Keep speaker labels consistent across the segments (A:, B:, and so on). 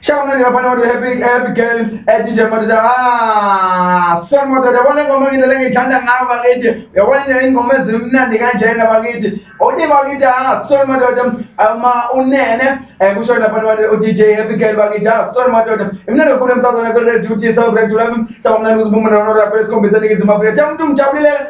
A: Shout out to Panama to Happy Happy Girl ethi nje madoda ah son madoda yabona ingoma ngine lengithanda ngayo bakithi yabona nje ingoma ezimnandi kanjena bakithi uthi bakithi ah son madoda uma unene eh kusho lapha abantu uDJ Happy Girl bakithi ah son madoda imnandi kakhulu emsazweni kwe Radio T South Rect lami sabamnandi uzibumba nonora kwesikhombisa nikizima Afrika cha umuntu ngijabulile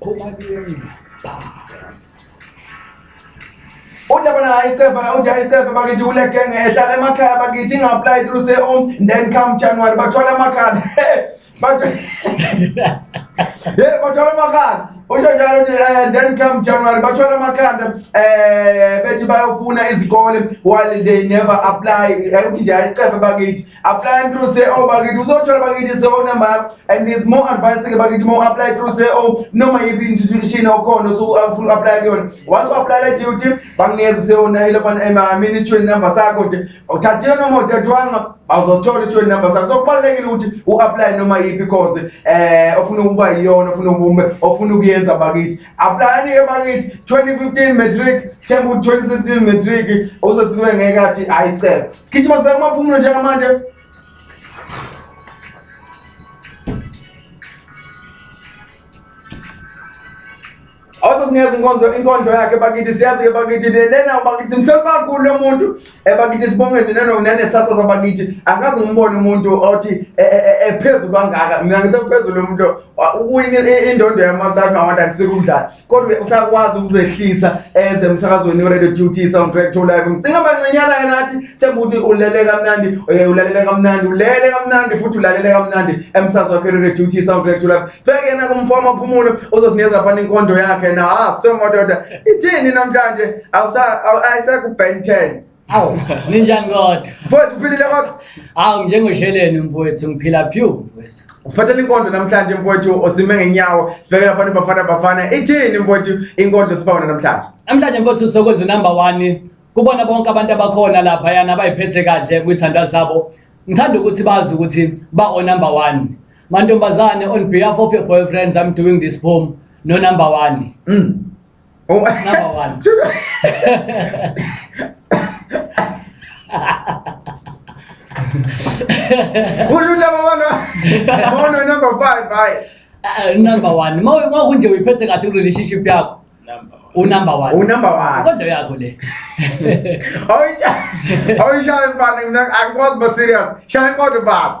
A: Phuma kimi. Ujabana high step, uthi high step bakithi kule gang ehlala emakhaya bakithi inga-apply through se home then come January bathwala amakhala. Bathwala Yeah, bathwala amakhala. Usho njalo uthi eh, then come January bathwala amakhanda eh bethi bayofuna izikole while they never apply. Eh, Uthi nje high step bakithi. apply through say oh bakithi uzothola bakithi so oh, number and it's more advanced ke bakithi more apply through say oh noma yibi institution okhona so ufuna uh, apply kuyona wathi apply le duty banginikeza se ona oh, ile ban ema eh, ministry number sakho nje uthathile noma uthathwanga awuzosithola i-train number sakho so kubalulekile ukuthi u-apply noma yiphi cause um ofuna ukuba yiyona ofuna ofuna ukuyenza bakithi Aplayani ke bakithi 2015 matric themba ukuthi 2016 matric usesiwe ngeke athi hayi cebo. Sigijima sibheke amaphumulo njengamanje. Awuze sinikeza inkonzo inkondlo yakhe bakithi siyazi ke bakithi lena bakithi mhlonipha kakhulu lo muntu ebakithi sibonge nina nokunenesasa zabakithi angazi ngimbone umuntu othi e, e, e, ephezulu kangaka mina ngisephezulu umuntu ukuwina indondo yamasati mawanda kusekudlala kodwa usakwazi ukuzehlisa eze emsakazweni uradio t t soundtrack to live singabancinyana ke nathi sembe ukuthi ulele kamnandi ulalele kamnandi ulele kamnandi futhi ulalele kamnandi emsazi wakhe uradio t t soundtrack to live Bheke na kumfama phumulo uzosinikeza phana inkondo yakhe na ah so madoda ithini namhlanje awusa ayiseku Ben 10 Awu ninjani
B: kodwa? Mfowethu uphilile kodwa?
A: Awu njengosheleni
B: mfowethu ngiphila phew mfowethu. Uphathele inkondo
A: namhlanje mfowethu osime ngenyawo sibekela phana bafana bafana ithini mfowethu inkondo sibawona namhlanje? Namhlanje mfowethu sokwenza number
B: 1 kubona bonke abantu abakhona lapha yana abayiphethe kahle kwithandwa zabo. Ngithanda ukuthi bazi ukuthi ba o number 1. Mantombazane on behalf of your boyfriends I'm doing this poem no number 1. Mm. Oh. Number
A: 1. Kusho laba bana. Bona number 5 hayi. Uh, number
B: 1. Uma kunje uyiphethe kahle ku relationship yakho. unumber one unumber one kodwa yakho le
A: awuyishaya mfana mina angikwazi ba serious shaya kodwa baba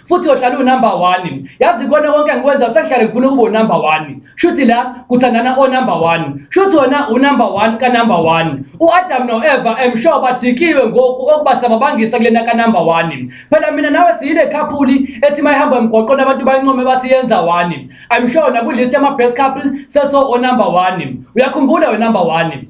B: futhi uyohlala unumber one yazi kona konke ngikwenza sekuhlale ngifuna ukuba unumber one shuthi la kuthandana onumber one shuthi wona unumber one kanumber one u-adam no-eva emsure badikiwe ngoku okuba sababangisa kulena kanumber one phela mina nawe siyile khaphuli ethi mayihamba emgwaqweni abantu bayincome bathi yenza one i'm sure nakudlist yama-best couple seso onumber one uyakhumbula wenumber one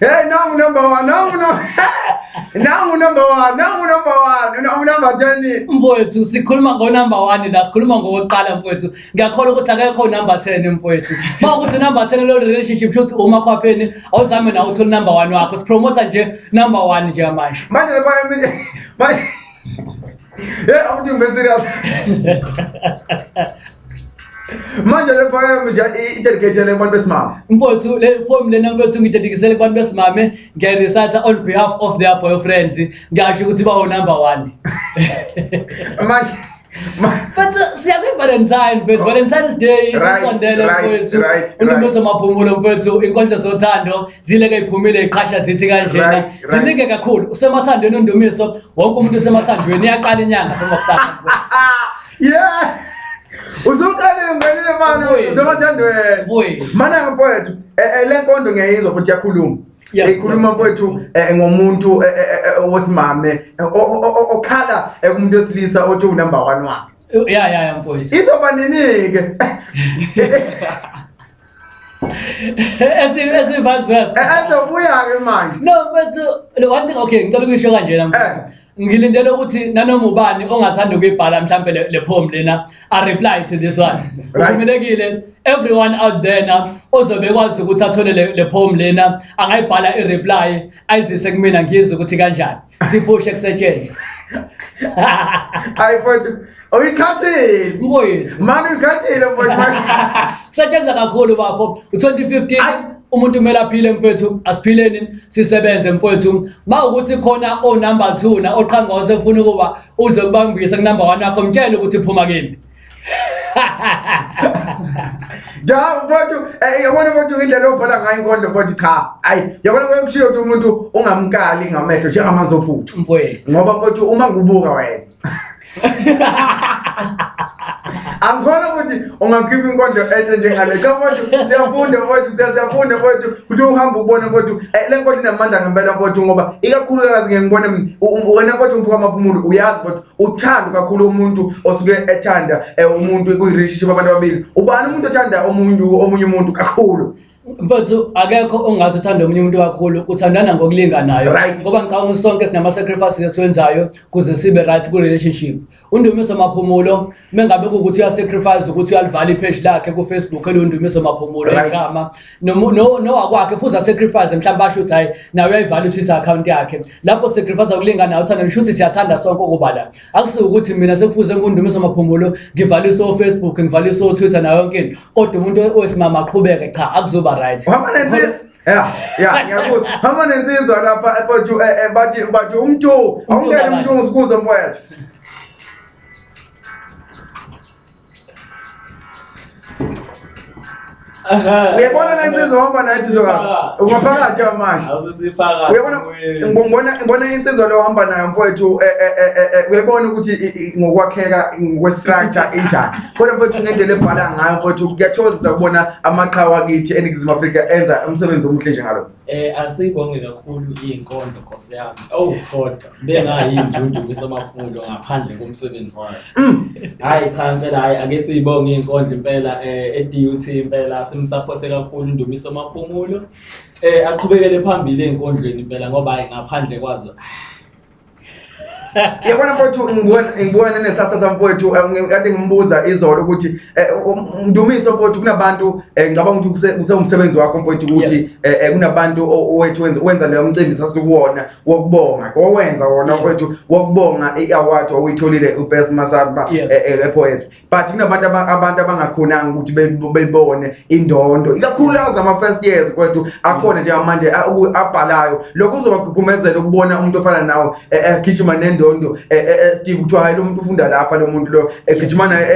A: Hey, nangu number one, nangu no. nangu number one, nangu number one, nangu number ten. mfowethu sikhuluma
B: ngonumber one la sikhuluma ngowokuqala mfowethu ngiyakhola ukuthi akekho number 10 mfowethu ma ukuthi number 10 lo relationship shothi uma khwapheni awuzame nawe uthole number one wakho sipromota nje number one nje manje Manje le boy manje
A: Hey, awuthi ngibe serious. Manje le poem nje i- i-dedicate-ele kubantu besimame. mfowethu le poem
B: lena mfowethu ngidedikisele kubantu besimame ngiyayirisatha on behalf of their boyfriends ngiyasho ukuthi bawo number one
A: Manje
B: but uh, siyakwi valentine mfethu valentine's day isisondele mfethu untombeza maphumulo mfethu inkondlo zothando zileke iphumile iqhasha zithi kanjena zininge kakhulu usemathandweni undumiso wonke umuntu usemathandweni iyaqala inyanga phuma kusasa yeah
A: usuqalile ngenile mani usemathandweni mana mfethu eh, eh, le nkondo ngiyayizwa futhi yakhuluma Yeah. ekhuluma kwethu eh, ngomuntu eh, eh, eh, osimame eh, o- o- o- okhala eh, kumuntu wesilisa othi unumber one wakhe ya ya ya mfowethu
B: izoba nini-ke Esi- esibazi wesi ezobuya-ke
A: manje no mfowethu
B: one thing okay ngicela ukuyisho kanjena mfowethu Eh. ngilindele ukuthi nanoma ubani ongathanda ukuyibhala mhlampe le poem lena a reply to this one uvumelekile everyone out there na ozobe kwazi ukuthi athole le poem lena angayibhala i reply ayizise kumina ngizwe ukuthi kanjani siphushe kusetshenzwe
A: hayi mfowethu uyikhathile mkoyethu mani
B: uyikhathile
A: mfowethu kusetshenzwa
B: kakhulu bafo u-2015 umuntu kumele aphile mfowethu asiphileni sisebenze mfowethu ma ukuthi khona onumber 2 na oqhanga osefuna ukuba uze kubambise kunumber 1 wakho mtshele ukuthi phuma kimi
A: Ja mfowethu eh yabona mfowethu indlela obhala ngayo inkondo mfowethu cha ayi yabona kwekushiyo ukuthi umuntu ungamkali ngamehlo njengamanzi ophuthu mfowethu ngoba mfowethu
B: uma ngibuka
A: wena angikholwa ukuthi ungakhipha inkondlo enhle njengale cha mfowethu siyafunda mfowethu siyafunda mfowethu ukuthi uhambe ubone mfowethu eh, le nkondlo inamandla ngempela mfowethu ngoba ikakhulukazi ngeke ngibone mina U- u- wena mfowethu umfuka amaphumulo uyazi mfowethu uthando kakhulu umuntu osuke ethanda eh, umuntu kuyi-relationship abantu ababili ubani umuntu othanda omunye omunye umuntu kakhulu mfowethu
B: akekho ongathi uthanda omunye umuntu kakhulu uthandana ngokulinganayo Right. ngoba ngicabanga ukuthi sonke sinama-sacrifices esiwenzayo kuze sibe right kwi-relationship undumiso maphumulo mengabe kuwukuthi uyasacrifice ukuthi uyalivala ipheji lakhe kufacebook elundumiso maphumulo Right. igama Nomu- no- nowakwakhe futhi asacrifice mhlawumbe asho ukuthi hhayi naye uyayivala utwitter account yakhe lapho sacrifice ukulinganayo uthanda nisho ukuthi siyathanda sonke ukuba la akusiwukuthi mina sekufuze kundumiso maphumulo ngivalise o-facebook ngivalise o-twitter nayo yonke into kodwa umuntu owesimama aqhubeke cha akuzoba right Uhamba nensizwa. Ya, ya, ngiyakuzwa.
A: Hamba nensizwa lapha ePothu eh, eh, bathi bathi umthu. Awungene kabantu. umthu ngisibuze mfowethu. uyabona le nsizwa ohamba nayo nsizwa ka ungaphakathi amanje uyabona ngibona ngibona insizwa le ohamba nayo mfowethu eh, eh, eh, uyabona ukuthi ngokwakheka ngokwestructure enjani kodwa mfowethu ngendlela ebhala ngayo mfowethu kuyathokozisa ukubona amaqhawe akithi eningizimu afrika enza umsebenzi omuhle njengalo Eh asibonge
C: kakhulu inkondlo Nkosi yami. Oh kodwa bengayinjunju kusomakhulu ngaphandle komsebenzi wakhe. Mm. Hayi cha impela hayi ake siyibonge inkondlo impela eh eDUT impela simsupport kakhulu Ndumiso Maphumulo. Eh aqhubekele phambili enkondlweni impela ngoba hayi ngaphandle kwazo.
A: yabona mfowethu ngibona ngibona nenesasa sami mfowethu eh, kade ngimbuza izolo ukuthi eh, um, ndumiso mfowethu kunabantu eh, ngicabanga ukuthi kuse- kusewumsebenzi wakho mfowethu ukuthi eh, eh, kunabantu o- owethu wenza- wenza leyo mcimbi sasikuwona wokubonga owenza wona Yeah. mfowethu wokubonga i-award owuyitholile ubest masaba Yeah. epoetry but kunabantu abantu abangakhonanga ukuthi bebone indondo ikakhulu lawo zama-first years kwethu akhona nje amande abhalayo lokho uzobagqugqumezela ukubona umuntu ofana nawo e, e, egijima nendondo e, steve kuthiwa hayi lo muntu ufunda lapha lo muntu lo egijima naye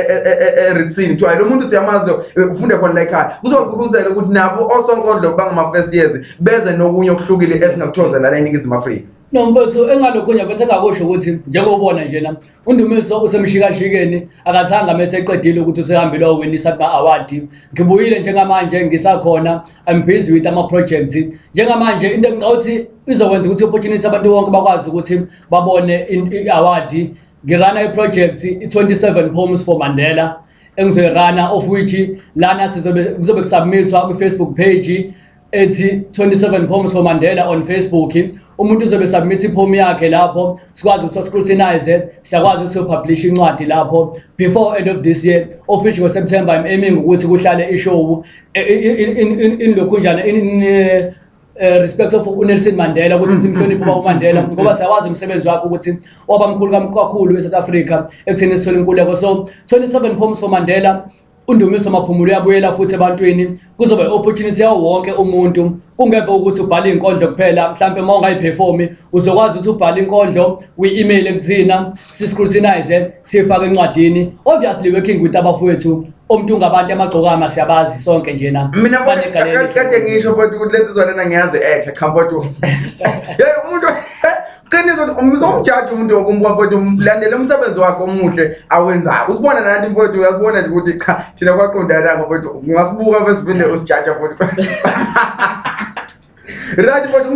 A: eritsini kuthiwa hayi lo muntu siyamazi lo ufunda khona la ekhaya kuzobagqugqumezela ukuthi nabo osonkondlo bangama-first years beze nokunye okuhlukile esingakuthozela la eningizimu afrika nomfowethu
B: engalokho nje mfethu engakusho ukuthi njengobona njena Undumiso usemshikashikeni akathanga mese eqedile ukuthi usehambile owinisa kuma award. Ngibuyile njengamanje ngisakhona I'm busy with ama projects. Njengamanje into engicawuthi izokwenza ukuthi opportunity abantu bonke bakwazi ukuthi babone i award. Ngirana i project i 27 poems for Mandela engizoyirana of which lana sizobe kuzobe kusubmitwa kwi Facebook page ethi 27 poems for Mandela on Facebook umuntu uzobe submit ipoem yakhe lapho sikwazi ukuthi scrutinize siyakwazi ukuthi publish incwadi lapho before end of this year official ngo September I'm aiming ukuthi kuhlale ishow in lokhunjana in eh, eh, respect of uNelson Mandela ukuthi simhloniphe uba uMandela ngoba siyawazi umsebenzi wakhe ukuthi wabamkhulu kakhulu eSouth Africa ekutheni sithole inkululeko so 27 poems for Mandela UNdumiso Maphumulo uyabuyela futhi ebantwini kuzoba i-opportunity yawo wonke umuntu kungeve ukuthi ubhale inkondlo kuphela mhlampe uma ungayiperformi uzokwazi ukuthi ubhale inkondlo uyi-email ekuthina si-scrutinize siyifake encwadini obviously working with abafowethu umuntu ngabantu amagcokama siyabazi sonke njena mina kade
A: ngisho but ukuthi lezi zona ngiyazi ehle khambotu yeyi umuntu qiniso umsomjaji umuntu woke mfowethu mlandele umsebenzi wakhe omuhle awenzayo usibona nathi mfowethu uyakubona nje ukuthi cha thina kwaqondanako mfowethu ungasibuka besiphinde usijaja mfowethu right mfowethu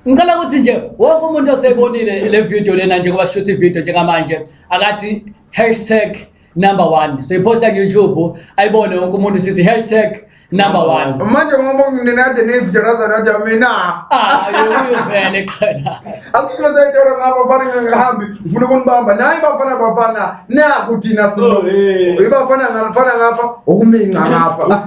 B: ngicela ukuthi nje wonke umuntu osebonile le video lena nje kuba shuthi ivideo njengamanje akathi hashtag number one soyiposta kuyoutube ayibone wonke umuntu sithi hashtag number one manje ngoba
A: nginade nevidio razanade mina ah, uyuvele
B: khona asikhuluma seyitoro
A: ngabo bafana ngingahambi ngifuna ukunibamba naye bafana bafana naku thina sino oh, ibafana ngafana ngapha okuminca ngapha